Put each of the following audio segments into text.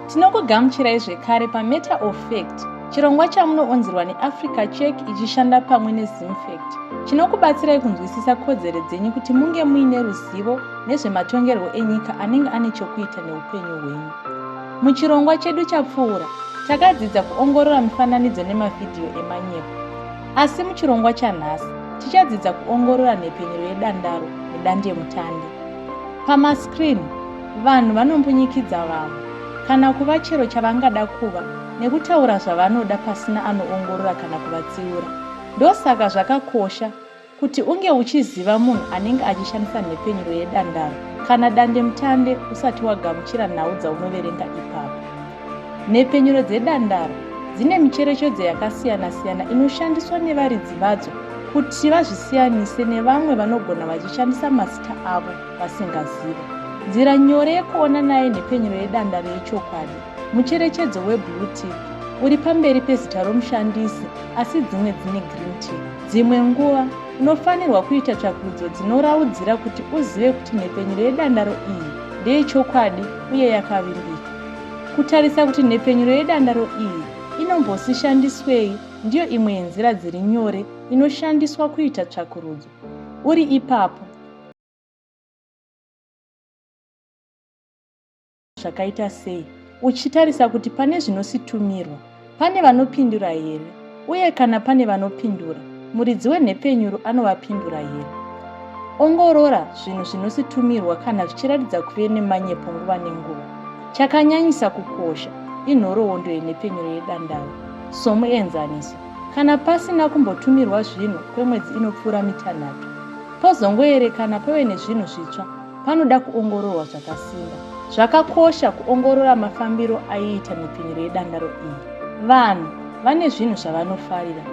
Tinokugamuchirai zvekare paMatter of Fact, chirongwa chamunoonzerwa neAfrica Check ichishanda pamwe neZimfact. Chinokubatsirai kunzwisisa kodzero dzenyu kuti munge muine ruzivo nezvematongerwo enyika anenge ane chokuita neupenyu hwenyu. Muchirongwa chedu chapfuura, takadzidza kuongorora mifananidzo nemavhidhiyo emanyepo. Asi muchirongwa chanhasi tichadzidza kuongorora nhepfenyuro yedandaro nedandemutande. Pamascreen, vanhu vanombunyikidza vamwe kana kuva chero chavangada kuva nekutaura zvavanoda pasina anoongorora kana kuvatsiura. Ndosaka zvakakosha kuti unge uchiziva munhu anenge achishandisa nhepfenyuro yedandaro kana dandemutande usati wagamuchira nhau dzaunoverenga ipapo. Nhepfenyuro dzedandaro dzine micherechedzo yakasiyana-siyana inoshandiswa nevaridzi vadzo kuti vazvisiyanise nevamwe vanogona vachishandisa mazita avo vasingazivi. Nzira nyore yekuona nayo nhepfenyuro yedandaro yechokwadi mucherechedzo weblue tick uri pamberi pezita romushandisi asi dzimwe dzine green tick. Dzimwe nguva unofanirwa kuita tsvakurudzo dzinoraudzira kuti uzive kuti nhepfenyuro yedandaro iyi ndeyechokwadi uye yakavimbika. Kutarisa kuti nhepfenyuro yedandaro iyi inombosishandiswei ndiyo imwe yenzira dziri nyore inoshandiswa kuita tsvakurudzo. Uri ipapo, zvakaita sei uchitarisa kuti pane zvinositumirwa Pane vanopindura here? Uye kana pane vanopindura, muridzi wenhepenyuro anovapindura here? Ongorora zvinhu zvinositumirwa kana zvichiratidza kuve nemanyepo nguva nenguva. Chakanyanyisa kukosha inhoroondo yenhepenyuro yedandaro. Somuenzaniso, kana pasina kumbotumirwa zvinhu kwemwedzi inopfuura mitanhatu, pozongoerekana pave nezvinhu zvitsva, panoda kuongororwa zvakasimba. Zvakakosha kuongorora mafambiro aiita mipfinyiro yedangaro iyi. Vanhu vane zvinhu zvavanofarira,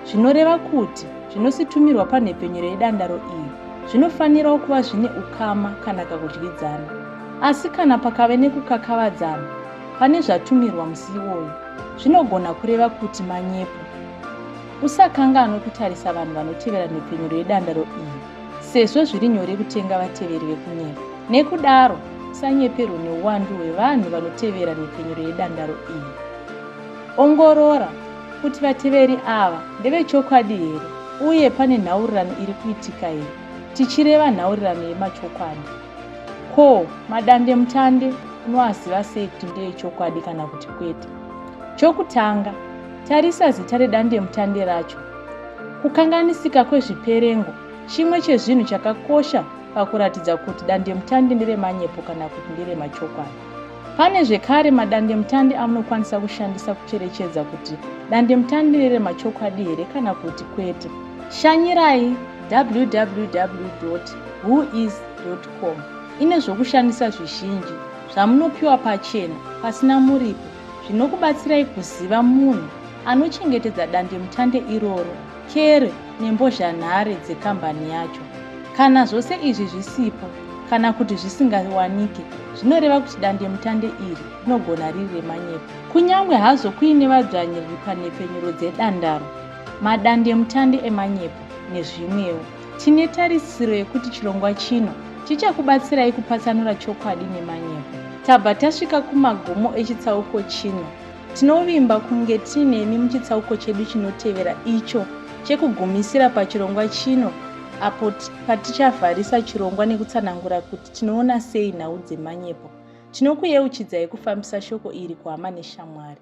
zvinoreva kuti zvinositumirwa panhepfenyuro yedandaro iyi zvinofanirawo kuva zvine ukama kana kakudyidzana. Asi kana pakave nekukakavadzana pane zvatumirwa musi iwoyo, zvinogona kureva kuti manyepo. Usakanganwe kutarisa vanhu vanotevera nhepfenyuro yedandaro iyi. sezvo zviri nyore kutenga vateveri vekunyepa nekudaro usanyeperwe neuwandu hwevanhu vanotevera nhepfenyuro yedandaro iyi ongorora kuti vateveri ava ndevechokwadi here uye pane nhaurirano iri kuitika here tichireva nhaurirano yemachokwadi ko madandemutande unoaziva sei kuti ndeechokwadi kana kuti kwete chokutanga tarisa zita redandemutande racho Kukanganisika kwezviperengo chimwe chezvinhu chakakosha pakuratidza kuti dandemutande nderemanyepo kana kuti nderemachokwadi. Pane zvekare madandemutande amunokwanisa kushandisa kucherechedza kuti dandemutande nderemachokwadi here kana kuti kwete. Shanyirai www whois com ine zvokushandisa zvizhinji zvamunopiwa pachena pasina muripo zvinokubatsirai kuziva munhu anochengetedza dandemutande iroro kere nembozhanhare dzekambani yacho kana zvose izvi zvisipo kana kuti zvisingawanike zvinoreva kuti dandemutande iri rinogona riri remanyepo kunyange hazvo kuine vadzvanyiriri panhepfenyuro dzedandaro madandemutande emanyepo nezvimwewo Tine tarisiro yekuti chirongwa chino chichakubatsirai kupatsanura chokwadi nemanyepo. Tabva tasvika kumagumo echitsauko chino. Tinovimba kunge tiinemi muchitsauko chedu chinotevera icho chekugumisira pachirongwa chino apo patichavharisa chirongwa nekutsanangura kuti tinoona sei nhau dzemanyepo tinokuyeuchidzai kufambisa shoko iri kuhama neshamwari